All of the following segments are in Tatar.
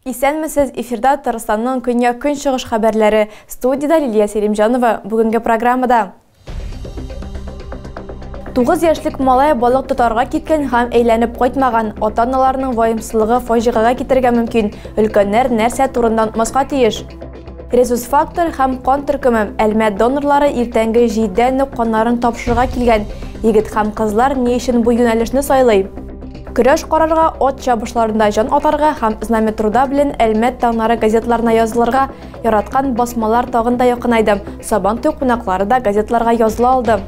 Исәнмесез, эфирда Татарстанның көньяк-көнчыгыш хәбәрләре. Студиядә Лилия Селимҗанова. Бүгенге программада Тугыз яшьлек малай балык тотарга киткән һәм әйләнеп кайтмаган. Ата-аналарның ваемсызлыгы фаҗигагә китергә мөмкин. Өлкәннәр нәрсә турында онтмаска тиеш? Резус фактор һәм кан төркеме Әлмәт донорлары иртәнге җиддә нөк каннарын тапшырырга килгән. Егет һәм кызлар ни өчен бу юнәлешне сайлый? Көрәш карарга, от чабышларында җан атарга һәм знаметруда белән Әлмәт таңнары газетларына язылырга Яраткан басмалар тагын да якынайды. Сабан туй кунаклары да газетларга языла алды.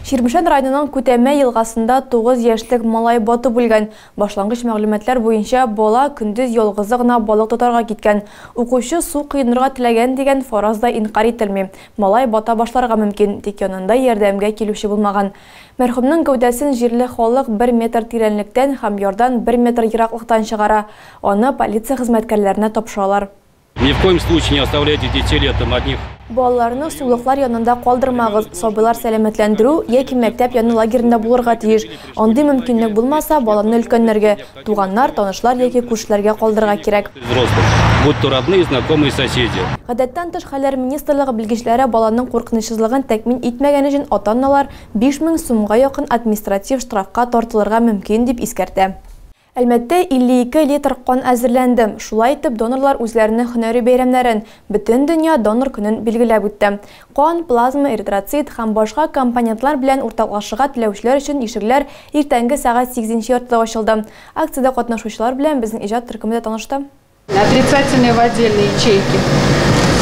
Чирмешән районының Күтәмә елгасында 9 яшьлек малай батып үлгән. Башлангыч мәгълүматлар буенча, бала көндез ялгызы гына балык тотарга киткән. Укучы су коенырга теләгән дигән фараз да инкарь ителми. Малай бата башларга мөмкин, тик янында ярдәмгә килүче булмаган. Мәрхүмнең гәүдәсен җирле халык бер метр тирәнлектән һәм ярдан бер метр ераклыктан чыгара, аны полиция хезмәткәрләренә тапшыралар. Ни в коем случае не оставляйте детей летом одних. Балаларны сулыклар янында калдырмагыз, сабыйлар сәламәтләндерү яки мәктәп яны лагеренда булырга тиеш. Андый мөмкинлек булмаса, баланы өлкәннәргә, Туганнар, танышлар яки күршеләргә калдырырга кирәк. Гадәттән тыш хәлләр министрлыгы белгечләре баланың куркынычсызлыгын тәкъмин итмәгән өчен ата-аналар 5000 сумга якын административ штрафка тартылырга мөмкин, дип искәртә. Әлмәттә 52 литр кан әзерләнде. Шулай итеп, донорлар үзләренең һөнәри бәйрәмнәрен, Бөтендөнья донор көнен билгеләп үтте. Кан, плазма, эритроцит һәм башка компонентлар белән уртаклашырга теләүчеләр өчен ишегләр иртәнге сәгать сигез нче яртыда ачылды. Акциядә катнашучылар белән безнең иҗат төркеме дә танышты. Отрицательные в отдельной ячейке.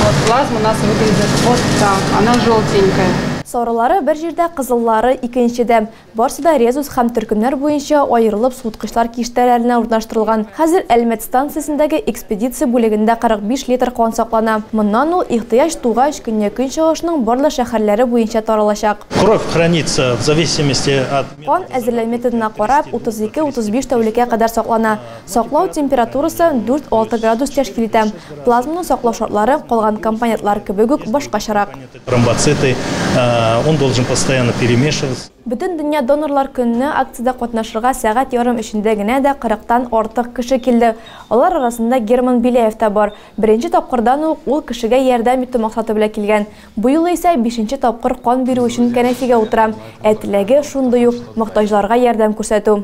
Вот плазма у нас выглядит вот так, она желтенькая. Сарылары бер җирдә, кызыллары, икенчедә. Барсы да резус һәм төркемнәр буенча аерылып суыткычлар киштәләренә урнаштырылган. Хәзер Әлмәт станциясендәге экспедиция бүлегендә 45 литр кан саклана. Моннан ул, ихтыяҗ тугач, Көньяк-Көнчыгышның барлык шәһәрләре буенча таралачак. Кровь хранится в зависимости от. Кан әзерләү методына карап, 32-35 тәүлеккә кадәр саклана. Саклау температурасы дүрт-алты градус тәшкил итә. Плазманы саклау шартлары, калган компонентлар кебек үк, башкачарак. Тромбоциты, э, он должен постоянно перемешиваться. Бөтен дөнья донорлар көнне акциядә катнашырга сәгать ярым эчендә генә дә 40-тан артык кеше килде. Алар арасында Герман Беляев та бар. Беренче тапкырдан ук ул кешегә ярдәм итү максаты белән килгән. Бу юлы исә бишенче тапкыр кан бирү өчен кәнәфигә утыра. Ә теләге шундый ук, мохтаҗларга ярдәм күрсәтү.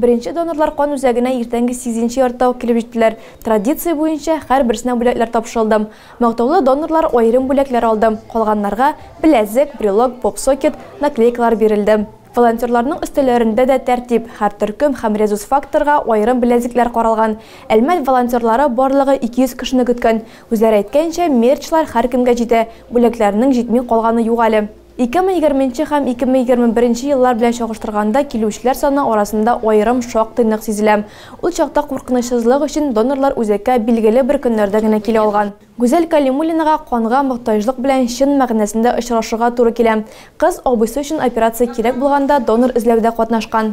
Беренче донорлар кан үзәгенә иртәнге сигезенче яртыда ук килеп җиттеләр. Традиция буенча, һәрберсенә бүләкләр тапшырылды. Мактаулы донорлар аерым бүләкләр алды, калганнарга, беләзек, брелок, поп-сокет, наклейкалар бирелде. Волонтерларның өстәлләрендә дә тәртип, һәр төркем һәм резус-факторга аерым беләзекләр каралган. Әлмәт волонтерлары барлыгы 200 кешене көткән, Үзләре әйткәнчә, мерчлар һәркемгә җитә, бүләкләрнең җитми калганы юк әле. 2020 нче һәм 2021 нче еллар белән чагыштырганда килүчеләр саны арасында аерым шактый нык сизелә. Ул чакта куркынычсызлык өчен донорлар үзәккә билгеле бер көннәрдә генә килә алган. Гүзәл Кәлимуллинага канга мохтаҗлык белән чын мәгънәсендә очрашырга туры килә. Кыз абыйсы өчен операция кирәк булганда донор эзләүдә катнашкан.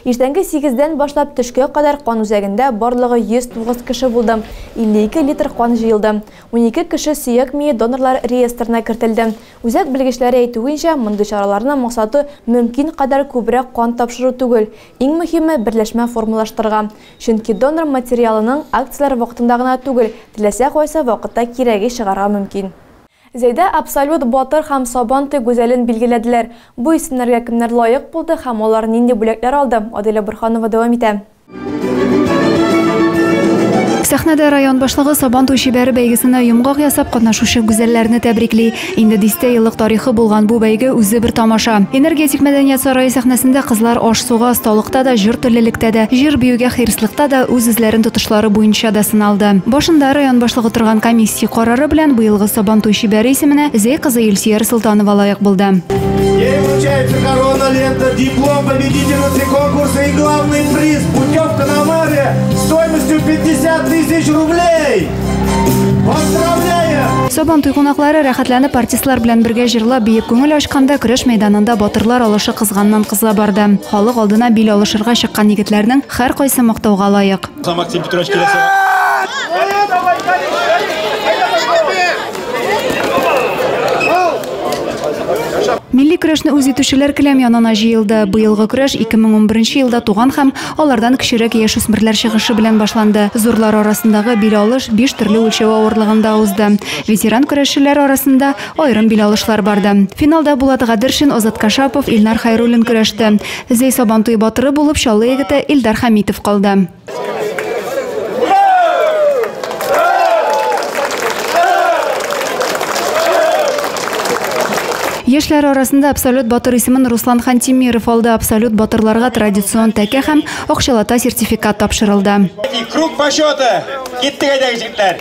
Иртәнге сигездән башлап төшкә кадәр кан үзәгендә барлыгы 109 кеше булды, 52 литр кан җыелды. Унике кеше сөяк мие донорлар реестрына кертелде. Үзәк белгечләре әйтүенчә, мондый чараларның максаты мөмкин кадәр күбрәк кан тапшыру түгел, иң мөһиме, берләшмә формалаштырырга. Чөнки донор материалының акцияләр вакытында гына түгел, теләсә кайсы вакытта кирәге чыгарга мөмкин. Зәйдә абсолют, батыр һәм Сабантуй гүзәлен билгеләделәр. Бу исемнәргә кемнәр лаек булды һәм алар нинди бүләкләр алды, Адилә Борһанова дәвам итә. Сәхнәдә район башлыгы Сабантуй чибәре бәйгесенә йомгак ясап, катнашучы гүзәлләрне тәбрикли. Инде дистә еллык тарихы булган бу бәйге үзе бер тамаша. Энергетик мәдәният сарае сәхнәсендә кызлар аш-суга, осталыкта да, җыр теллелектә дә, җыр-биюгә хирыслыкта да үз-үзләрен тотышлары буенча да сыналды. Башында район башлыгы торган комиссия карар. Ры белән быелгы Сабантуй чибәре исеменә Зәй кызы Илсөяр Солтанова лаек булды. Ей вручается корона, лента, диплом победительницы конкурса и главный приз – путевка на море стоимостью 50 тысяч рублей! Поздравляем! Сабантуй кунаклары рәхәтләнеп артистлар белән бергә җырлап, биеп күңел ачканда көрәш мәйданында батырлар алышы кызганнан-кыза барды. Халык алдына бил алышырга чыккан егетләрнең һәркайсы мактауга лаек. Максим Петрович киләсе. Милли көрәшне үз итүчеләр келәм янына җыелды. Быелгы көрәш 2011 елда туган һәм алардан кечерәк яшүсмерләр чыгышы белән башланды. Зурлар арасындагы бил алыш биш төрле үлчәү авырлыгында узды. Ветеран көрәшчеләр арасында аерым бил алышлар барды. Финалда Булат Гадершин, Азат Кашапов, Илнар Хайруллин көрәште. Зәй Сабантуй батыры булып Чаллы егете Илдар Хәмитов калды. Яшьләр арасында абсолют батыр исемен Руслан Хантимиров алды. Абсолют батырларга традицион тәкә һәм акчалата сертификат тапшырылды. Круг почета. Киттек әйдәгез җегетләр.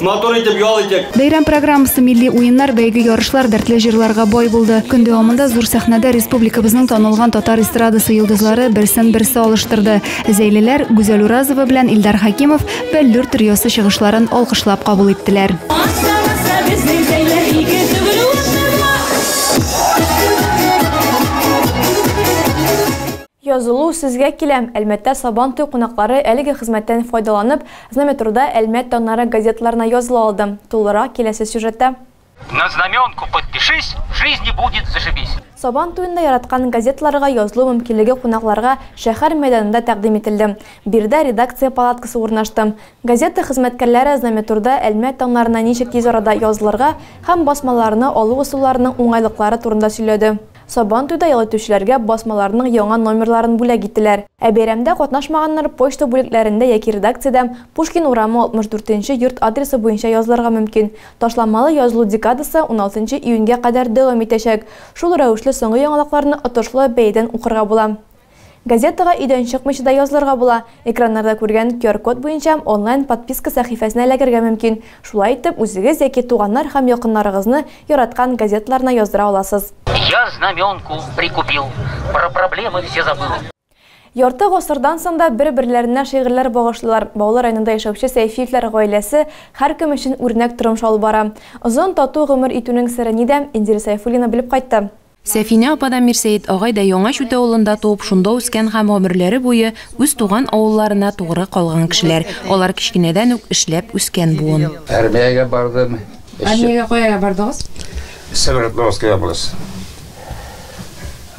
Матур итеп ял итик. Бәйрәм программасы милли уеннар, бәйге, ярышлар, дәртле җырларга бай булды. Көн дәвамында зур сәхнәдә республикабызның танылган татар эстрадасы йолдызлары берсен-берсе алыштырды. Зәйлеләр Гүзәл Уразова белән Илдар Хәкимов Бәллүр триосы чыгышларын алкышлап кабул иттеләр. Язылу, Сезгә киләм! Әлмәттә Сабан туй кунаклары әлеге хезмәттән файдаланып, Знаметруда Әлмәт таңнары газеталарына языла алды. Тулырак киләсе сюжетта. На знаменку подпишись, в жизни будет зашибись! Сабан туенда яраткан газеталарга язылу мөмкинлеге кунакларга шәһәр мәйданында тәкъдим ителде. Биредә редакция палаткасы урнашты. Газета хезмәткәрләре Знаметруда Әлмәт таңнарына ничек тиз арада язылырга һәм басмаларны алу ысулларының уңайлыклары турында сөйләде. Сабантуйда ял итүчеләргә басмаларның яңа номерларын бүләк иттеләр. Ә бәйрәмдә катнашмаганнар почта бүлекләрендә яки редакциядә Пушкин урамы 64 нче йорт адресы буенча язылырга мөмкин. Ташламалы язылу декадасы 16 нчы июньгә кадәр дәвам итәчәк. Шул рәвешле соңгы яңалыкларны отышлы бәядән укырга була. Газетага өйдән чыкмыйча да язылырга була. Экраннарда күргән QR-код буенча онлайн подписка сәхифәсенә эләгергә мөмкин. Шулай итеп, үзегез яки туганнар һәм якыннарыгызны яраткан газеталарына яздыра аласыз. Я знаменку прикупил, про проблемы все забыл. Ярты гасырдан соң да бер-берләренә шигырьләр багышлыйлар. Баулы районында яшәүче Сәйфиевләр гаиләсе һәркем өчен үрнәк тормыш алып бара. Озын, тату гомер итүнең сере нидә, Индира Сәйфуллина белеп кайтты. Сәфинә апа да, Мирсәет агай да Яңа Чүтә авылында туып, шунда үскән һәм гомерләре буе үз туган авылларына тугры калган кешеләр. Алар кечкенәдән үк эшләп үскән буын. Армиягә бардым. Армиягә кая бардыгыз? Свердловская область.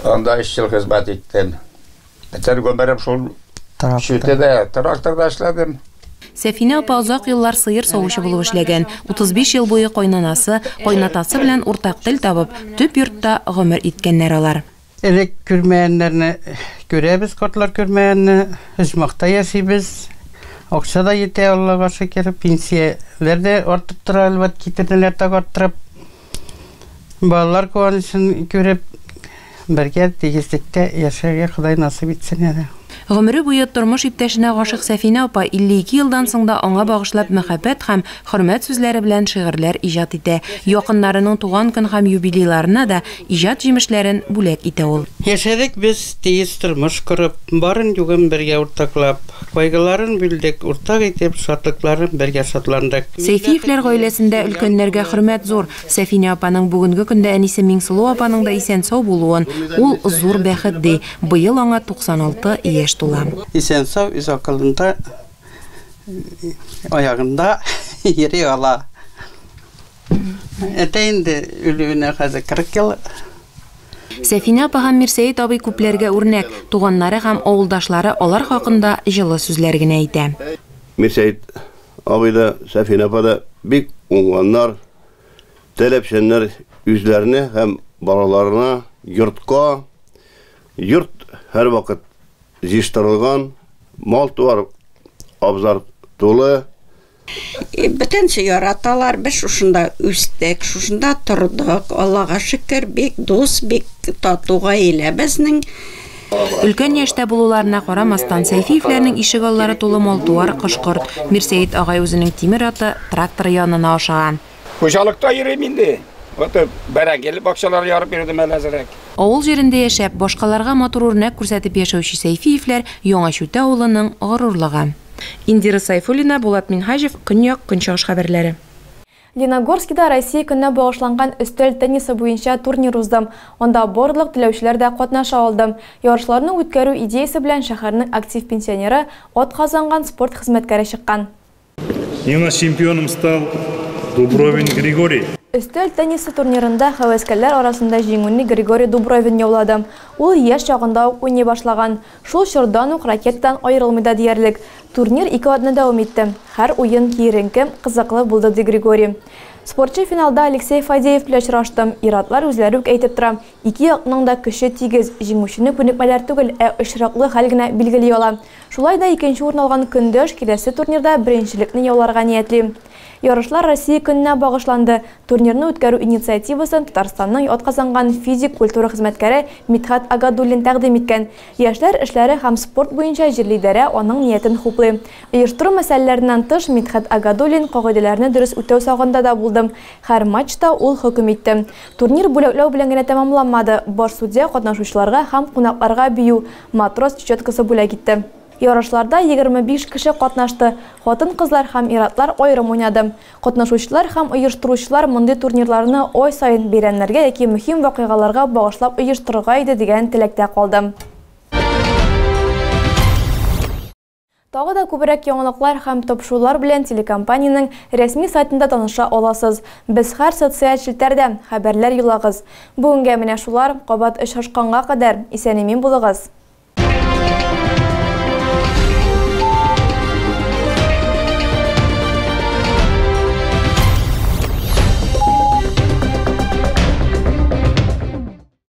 Анда өч ел хезмәт иттем. Бөтен гомерем шул чүтедә, тракторда эшләдем. Сәфинә апа озак еллар сыер савучы булып эшләгән. 35 ел буе кайнанасы, кайнатасы белән уртак тел табып, төп йортта гомер иткәннәр алар. Элек күрмәгәннәрне күрәбез, картлар күрмәгәнне. Оҗмахта яшибез. Акча да йитә, Аллага шөкер. Пенсияләр дә артып тора, әлбәт, китерделәр тагы арттырып. Балалар куанычын күреп, бергә тигезлектә яшәргә Ходай насыйп итсен әле. Гомере буе тормыш иптәшенә гашыйк Сәфинә апа 52 елдан соң да аңа багышлап мәхәббәт һәм хөрмәт сүзләре белән шигырьләр иҗат итә. Якыннарының туган көн һәм юбилейларына да иҗат җимешләрен бүләк итә ул. Яшәдек без тигез тормыш корып, барын-югын бергә уртаклап. Кайгыларын бүлдек, уртак итеп, шатлыкларын бергә шатландык. Сәйфиевләр гаиләсендә өлкәннәргә хөрмәт зур. Сәфинә апаның бүгенге көндә әнисе Миңсылу апаның да исән-сау булуын, ул, зур бәхет, ди. Быел аңа 96 яшь тула. Исән-сау, үз акылында, аягында йөри ала. Әтә инде үлүенә хәзер 40 ел. Сәфинә апа һәм Мирсәет абый күпләргә үрнәк, туганнары һәм авылдашлары алар хакында җылы сүзләр генә әйтә. Мирсәет абый да, Сәфинә апа да бик уңганнар, таләпчәннәр, үзләренә һәм балаларына, йортка, йорт һәрвакыт җыештырылган, мал-туар, абзар тулы, Бөтенесе яраталар, без шушында үстек, шушында тордык, Аллага шөкер, бик дус, бик тату гаилә безнең. Өлкән яшьтә булуларына карамастан, Сәйфиевләрнең ишегаллары тулы мал-туар, кош-корт. Мирсәет агай үзенең тимер аты, тракторы янына ашыга. Хуҗалыкта йөрим инде. Вот бәрәңгеле бакчалар ярып йөрдем әле әзрәк. Авыл җирендә яшәп, башкаларга матур үрнәк күрсәтеп яшәүче Сәйфиевләр, Яңа Чүтә авылының горурлыгы. Индира Сайфуллина, Булат Минһаҗев, Көньяк, Көнчыгыш хәбәрләре. Леногорскида Россия көненә багышланган өстәл теннисы буенча турнир узды. Анда барлык теләүчеләр дә катнаша алды. Ярышларны үткәрү идеясе белән шәһәрнең актив пенсионеры, атказанган спорт хезмәткәре чыккан. Миңа чемпионым стал Дубровин Григорий. Өстәл теннисы турнирында һәвәскәрләр арасында җиңүне Григорий Дубровин яулады. Ул яшь чагында ук уйный башлаган, шул чордан ук ракетадан аерылмый да диярлек. Турнир ике атна дәвам итте. Һәр уен киеренке, кызыклы булды, ди Григорий. Спортчы финалда Алексей Фадеев белән очрашты. Ир-атлар үзләре үк әйтеп тора, ике якның да көче тигез, җиңүчене күнекмәләр түгел, ә очраклы хәл генә билгели ала. Шулай да икенче урын алган Көндәш киләсе турнирда беренчелекне яуларга ниятли. Ярышлар Россия көненә багышланды, турнирны үткәрү инициативасын Татарстанның атказанган физик культура хезмәткәре Мидхәт Агадуллин тәкъдим иткән. Яшьләр эшләре һәм спорт буенча җирлидарә аның ниятен хуплый. Оештыру мәсьәләләреннән тыш, Мидхәт Агадуллин кагыйдәләрне дөрес үтәү сагында да булды. Һәр матчта ул хөкем итте. Турнир бүләкләү белән генә тәмамланмады, баш судья катнашучыларга һәм кунакларга бию, Матрос четкасы бүләк итте. Ярышларда егерме биш кеше катнашты, хатын-кызлар һәм ир-атлар аерым уйнады. Катнашучылар һәм оештыручылар мондый турнирларны ай саен бәйрәмнәргә яки мөһим вакыйгаларга багышлап оештырырга иде дигән теләктә калды. Тагы да күбрәк яңалыклар һәм тапшырулар белән телекомпаниянең рәсми сайтында таныша аласыз. Без һәр социаль челтәрдә, хәбәрләр юлагыз. Бүгенгә менә шулар, кабат очрашканга кадәр, исән-имин булыгыз!